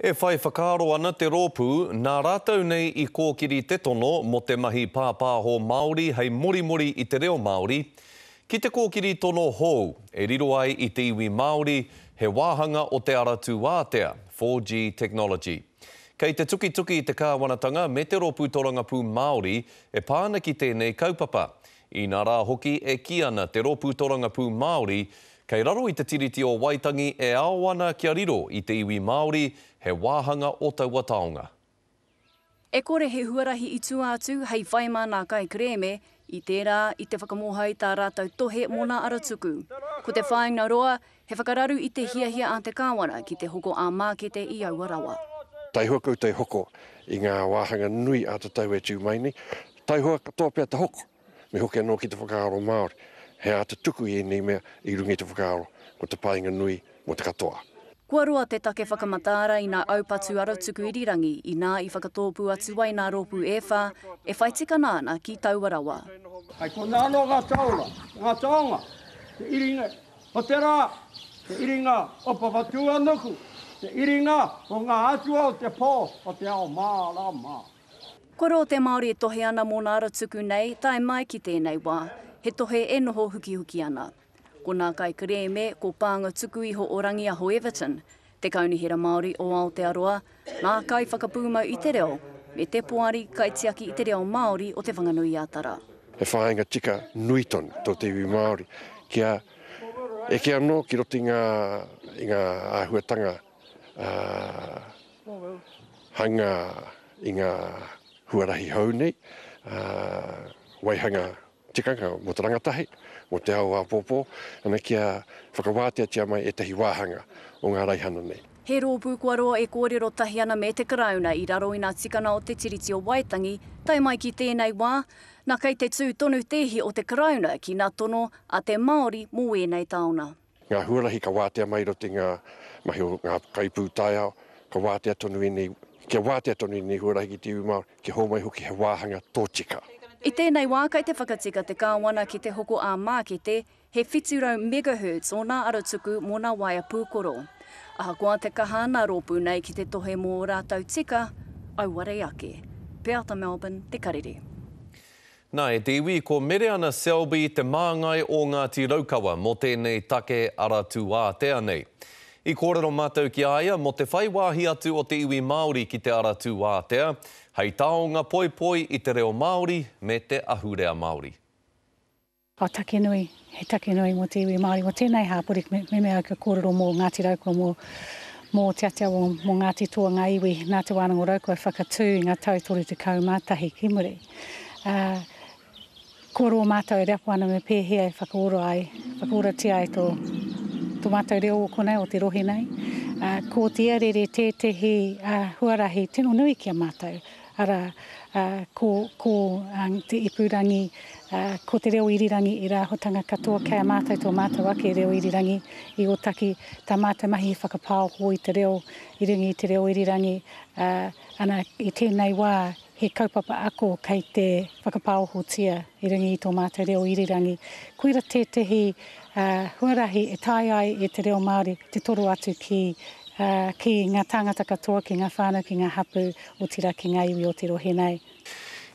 E whai whakaaro ana te rōpū, nā rātou nei i kōkiri te tono mō te mahi pāpāho Māori hei morimori i te reo Māori, ki te kōkiri tono hou, e riro ai i te iwi Māori, he wāhanga o Te Ara Tūātea, 4G Technology. Kei te tukituki te kāwanatanga me te rōpū torangapū Māori e pā ana ki tēnei kaupapa, inā rā hoki e kī ana te rōpū torangapū Māori, Kei raro i te Tiriti o Waitangi e ao ana kia riro i te iwi Māori he wāhanga o taua taonga. E kore he huarahi i tua atu hei whai mā nā kaikerēme, i tērā, i te whakamōhai tā rātou tohe mō nā ara tuku. Ko te whāinga roa, he whakararu i te hiahia a te Kāwana ki te hoko ā-mākete i aua rawa. Taihoa koutou hoko i ngā wāhanga nui ā-tatau e tū mai nei, taihoa katoa pea te hoko. Me hoki anō ki te whakaaro Māori, he āta tuku i ēnei mea i runga i te whakaaro, ko te painga nui mō te katoa. Kua roa te take whakamataara i nā aupatu arotuku irirangi inā i whakatōpū atu ai nā rōpū e whā e whai tikana ana ki taua rawa. Hei konā anō ngā taonga, ngā taonga, te iringa o te rā, te iringa o Papatūānuku, te iringa o ngā atua o te pō o te ao mārama. Ko rō te Māori e tohe ana mōna ara tuku nei, tae mai ki tēnei wā, he tohe e noho hukihuki ana. Ko nā kaikerēme, ko Pānga Tuku Iho o Rangiaho Everton, te Kaunihera Māori o Aotearoa, ngā kaiwhakapūmau i te reo, me te Poari Kaitiaki i te Reo Māori o Te Whanganui-a-Tara. He whāinga tika nui tonu tō te iwi Māori kia eke anō ki roto i ngā āhuatanga ā. hanga i ngā huarahi hou nei, waihanga tikanga mō te rangatahi, mō te ao āpōpō, ana kia whakawāteatia mai ētahi wāhanga o ngā raihana nei. He rōpū kua roa e kōrero tahi ana me te Karauna i raro i nā tikanga o Te Tiriti o Waitangi, tae mai ki tēnei wā, nā kei te tū tonu te ihi o te Karauna ki nā tono a te Māori mō wēnei taona. Ngā huarahi ka wātea mai i roto i ngā mahi o ngā kaipūtaiao, ka wātea tonu ēnei, kia wātea tonu ēnei huarahi ki te iwi Māori, kia hōmai hoki he wāhanga tōtika. I tēnei wā, kai te whakatika te Kāwana ki te hoko ā-mākete, he 700 megahertz ōna arotuku mō nā waea pūkoro. Ahakoa te kaha nā rōpū nei ki te tohe mō ō rātou tika, auare ake. Peata Melbourne, Te Karere. Nā, e te iwi, ko Mereana Selby te māngai o Ngāti Raukawa mō tēnei take ara tūātea nei. I kōrero mātou ki a ia mō te whai wāhi atu o te iwi Māori ki te ara tūātea, hei taonga poipoi i te reo Māori me te ahurea Māori. Ā, take nui, He take nui mō te iwi Māori, mō tēnei hapori, me mea au kia kōrero mō Ngāti Raukua, mō mō Te Atiawa, mō Ngāti Toa ngā iwi nā Te Wānanga o Raukua i whakatū i ngā tau 31 ki muri. Ā, kua roa mātou e reapo ana me pēhea e whakaora ai, whakaoratia ai tō, tō mātou reo o konei, o te rohe nei. Ā, ko te iarere tētehi huarahi tino nui ki a mātou, Arā, ko, ko te ipurangi, ko te reo irirangi i rāhotanga katoa kei a mātou tō mātou ake reo irirangi i Ōtaki. Tā mātou mahi he whakapāoho i te reo i runga i te reo irirangi, ā, ana, i tēnei wā he kaupapa ako kei te whakapāohotia i runga i tō mātou reo irirangi. Koira tētehi, ā, huarahi e taea ai e te reo Māori te toro atu ki, ā, ki ngā tāngata katoa, ki ngā whānau, ki ngā hapū. otira ki ngā iwi o te rohe nei.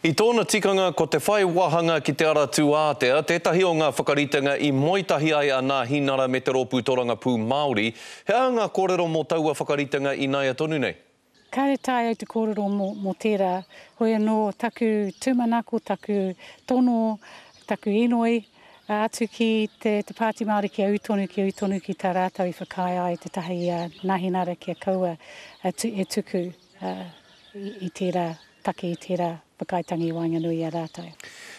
I tōna tikanga ko te whai wāhanga ki Te Ara Tūātea tētahi o ngā whakaritenga i moe tahi ai a Nāhinara me te Rōpū Torangapū Māori. He aha ngā kōrero mō taua whakaritenga ināia tonu nei? Kāre tae au te kōrero mō tērā, hoi anō taku tūmanako, taku tono, taku inoi, Atu ki te Pāti Māori kia ū tonu, kia ū tonu ki tā rātou i whakaae ai te taha i a Nahinara kia kaua e tuku i tērā take, i tērā whakaaetanga i waenganui i a rātou.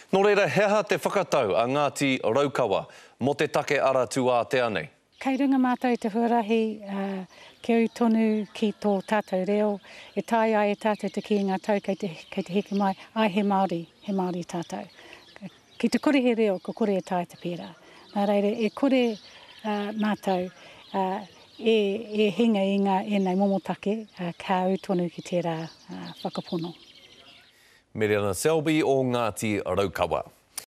Nō reira, he aha te whakatau a Ngāti Raukawa mō te take ara tūātea nei? Kei runga mātou i te huarahi kia ū tonu ki tō tātou reo, e taea ai e tātou te kī i ngā tau kei te heke mai, āe he Māori, he Māori tātou. Ki te kore he reo, ka kore e taea te pērā. Nā reira, e kore mātou e hinga i ngā ēnei momo take, ka ū tonu ki tērā whakapono. Mereana Selby o Ngāti Raukawa.